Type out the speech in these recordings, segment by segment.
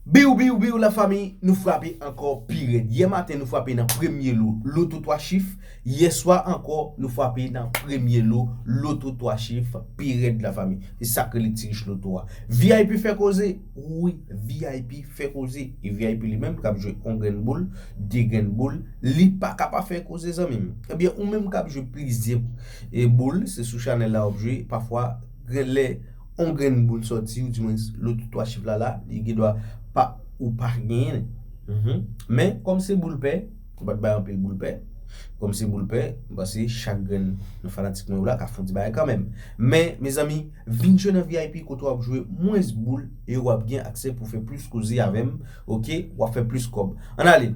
Biw biw biw la fami nou frape ankò pi rèd yè maten nou frape nan premye lo loto 3 chif yè swa ankò nou frape nan premye lo loto 3 chif pi rèd la fami se sak rele ti rich loto a vip fè koze wi vip fè koze e vip li menm kap jwe on grenn boul de grenn boul li paka pa fè koze zanmim ebyen ou menm kap jwe plizyè boul se sou chanèl la wap jwe pafwa genlè On grenn boul sòti ou di mwens lôt 3 chif la la li gen dwa pa ou pa genyenl men kôm se boul pè ou pat bay anpil boul pè kôm se boul pè m panse chak grenn nan fanatik mwen yo la ka fon ti bagay kanmenm men mezanmi vin jwe nan vip kote wap jwe mwens boul e wap gen aksè pou fè plis koze avèm ok wap fè plis kôb ann ale.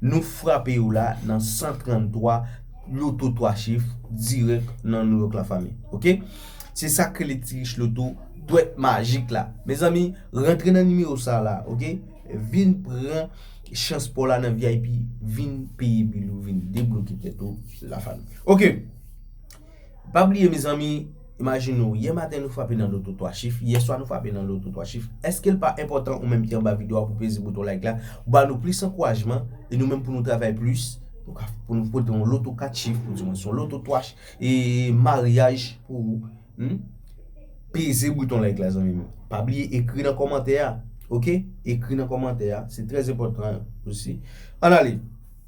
Nou frape yo la nan 133 loto 3 chif dirèk nan New York la fanmi ok se sak rele ti rich loto dwèt majik la mezanmi rantre nan nimewo sa la ok vin pran chans paw la nan vip vin peye bil ou vin debloke tèt ou la fanmi ok. Pa bliye mezanmi, imajine w, yè maten nou frape nan loto 3 chif, yè swa nou frape nan loto 3 chif, èske l pa enpòtan ou menm ki anba video a pou peze bouton like la, ba nou plis ankourajman, e nou menm pou nou travay plis, pou nou pote yon loto 4 chif, ou di mwen son loto 3 chif, e maryaj pou ou, humm, peze bouton like la zanmim yo, pa bliye ekri nan kòmantè a, ok, ekri nan kòmantè a, se trèz enpòtan osi, an ale.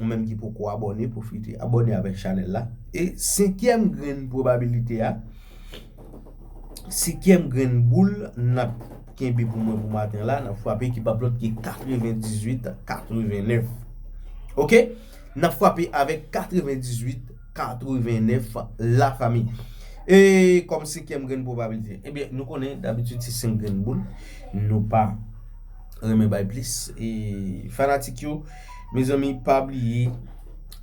Ou menm ki poko abòne pwofite abòne avèk chanèl la e senkyèm grenn pwobabilite a senkyèm grenn boul nap kenbe pou mwen pou maten la nap fwape ki pap lòt ke 98 89 ok nap fwape avèk 98 89 la fami e kòm senkyèm grenn pwobabilite e byen nou konnen dabitid se senk grenn boul nou pa renmen bay plis e fanatik yo Mezanmi pa bliye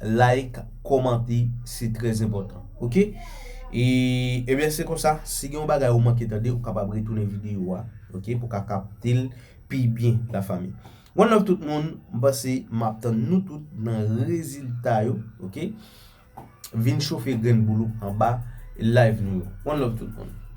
like komante se trèz enpòtan ok e ebyen se konsa si gen yon bagay ou manke tande ou kapab retounen videyo a ok pou ka kaptel pi byen la fami one love tout moun m pase map tann nou tout nan rezilta yo ok vin chofe grenn boul ou anba live nou yo one love tout moun.